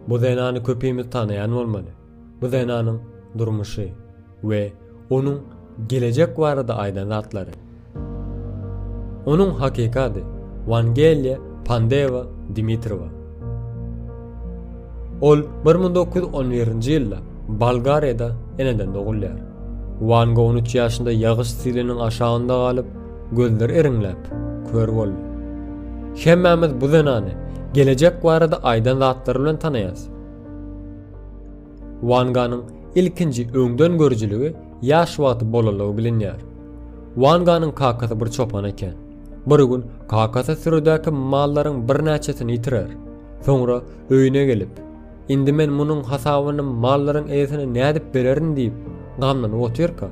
Bu zenany köpimiz tanaýan bolmaly. Bu zenanyň durmuşy we onuň gelejek barada aýdan zatlary. Onuň hakyky ady Wangeliýa Pandewa Dimitrowa. Ol 1911-nji ýylda Bolgariýada eneden dogulýar. Wanga on üç ýaşynda ýagyş siliniň aşagynda galyp, Gözleri iriňläp, kör boldy. Hemmämiz bu zenany gelejek barada aýdan zatlary bilen tanaýarys. Wanganyň ilkinji öňdengörüjiligi ýaş wagty bolanlygy bilinýär. Wanganyň kakasy bir çopan eken. Bir gün kakasy sürüdäki mallaryň birnäçesini ýitirer. Soňra öýüne gelip, Indi men munuň hasabyny mallaryň eýesine nädip bererin diýip, gamlanyp otyrka,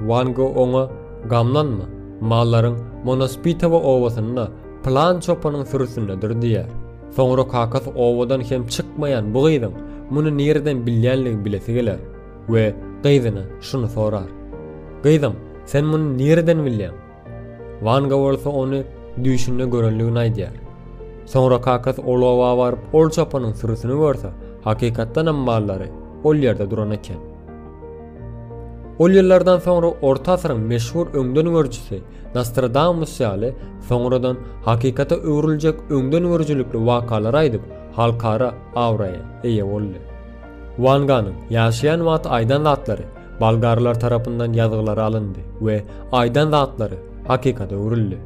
Wan Go oňa, Gamlanma, mallaryň Monospitowa obasynda pylan çopanyň sürüsindedir diýýär. Soňra kakasy obadan hem çykmaýan bu gyzyň muny nireden bilýänligini bilesi geler we gyzyna şuny sorar, Gyzym, sen muny nireden bilýäň? Wanga bolsa ony düýşünde görenligini aýdýar. Soňra kakasy ol oba baryp ol çopanyň sürüsini görse, hakykatdanam mallary ol ýerde duran eken. Ol ýyllardan soňra orta asyryň meşhur öňden görjüsi Nostradamus ýaly soňradan hakykata öwrüljek öňden görjülikli wakalary aýdyp halkara abraýa eýe boldy. Wanganyň ýaşaýan wagty aýdan zatlary Bolgarlar tarapyndan ýazgylary alyndy we aýdan zatlary hakykata öwrüldi.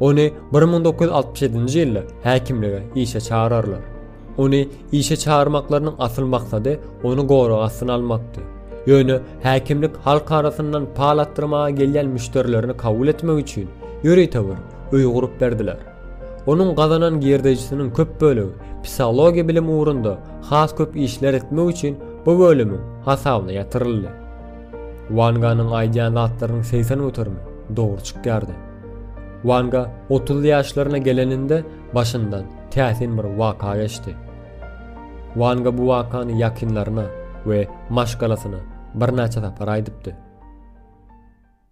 Ony 1967-nji ýylda häkimlige işe çagyrarlar. Ony işe çagyrmaklarynyň asyl maksady ony gorag astyna almakdy. Ýöne häkimlik halk arasyndan pal atdyrmaga gelýän müşderilerini kabul etmek üçin ýörite bir öý gurup berdiler. Onuň gazanan girdejisiniň köp bölegi psihologiýa bilim ugrunda has köp işler etmek üçin bu bölümiň hasabyna ýatyryldy. Wanganyň aýdýan zatlarynyň segsen göterimi dogry çykýardy. Wanga otuzly ýaşlaryna geleninde başyndan täsin bir waka geçdi. Wanga bu wakany ýakynlaryna we maşgalasyna birnäçe sapar aýdypdy.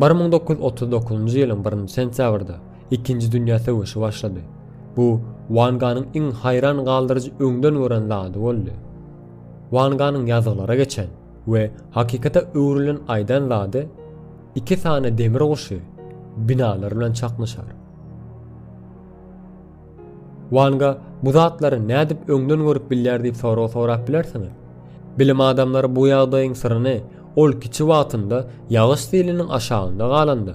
Bir müň dokuz ýüz otuz dokuzynjy ýylyň birinji sentýabrda Ikinji dünýä söweşi başlady. Bu Wan Ganyň iň haýran galdyryjy öňden gören zady boldy. Wan Ganyň ýazgylara geçen we hakykata öwrülen aýdan zady iki sany demir guşy binalar bilen çaknyşar. Wanga bu zatlary nädip öňden görüp bilýär diýip sorag sorap bilersiňiz. Bilim adamlary bu ýagdaýyň syryny ol kiçi wagtynda ýagyş siliniň aşagynda galanda,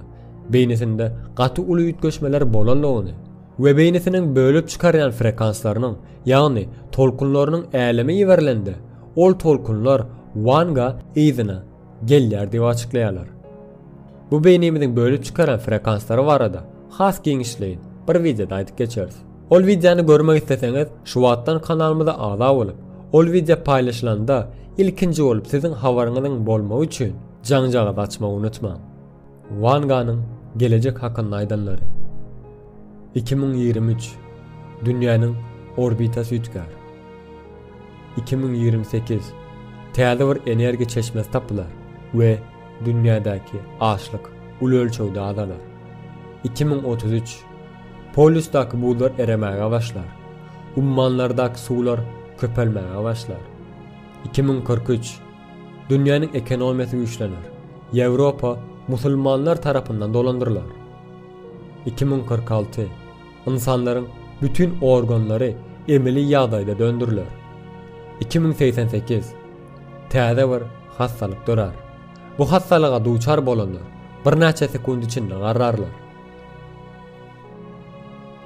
beýnisinde gaty uly üýtgeşmeler bolanlygyny we beýnisiniň bölüp çykarýan frekanslarynyň, ýagny tolkunlarynyň äleme iberilende, ol tolkunlar Wanga yzyna, gelýär diýip açyklaýarlar. Bu beýnimiziň bölüp çykaran frekanslary barada has giňişleýin bir wideoda aýdyp geçeris. Ol wideony görmek isleseňiz şu wagtdan kanalymyza agza bolup, ol wideo paýlaşylanda ilkinji bolup siziň habaryňyzyň bolmagy üçin jaňjagazy açmagy unutmaň. Wanganyň gelejek hakynda aýdanlary. Iki müň ýigrimi üç. Dünýäniň orbitasy üýtgär. Iki müň ýigrimi sekiz Täze bir energiýa çeşmesi tapylar we dünýädäki açlyk uly ölçegde azalar. Iki müň otuz üç Polýusdaky buzlar eremäge başlar. Ummanlardaky suwlar köpelmäge başlar. Iki müň kyrk üç Dünýäniň ekonomiýasy güýçlener. Ýewropa musulmanlar tarapyndan dolandyrylar. Iki müň kyrk alty Ynsanlaryň bütin organlary emeli ýagdaýda döndüriler. Iki müň segsen sekiz. Täze bir hassalyk dörär. Bu hassalyga duçar bolanlar birnäçe sekunt içinde garrarlar.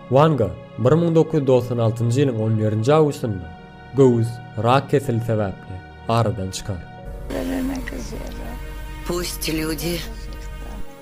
Wanga bir müň dokuz ýüz togsan altynjy ýylyň on birinji awgustynda göwüs rak keseli sebäpli aradan çykar. Pusti lyudi.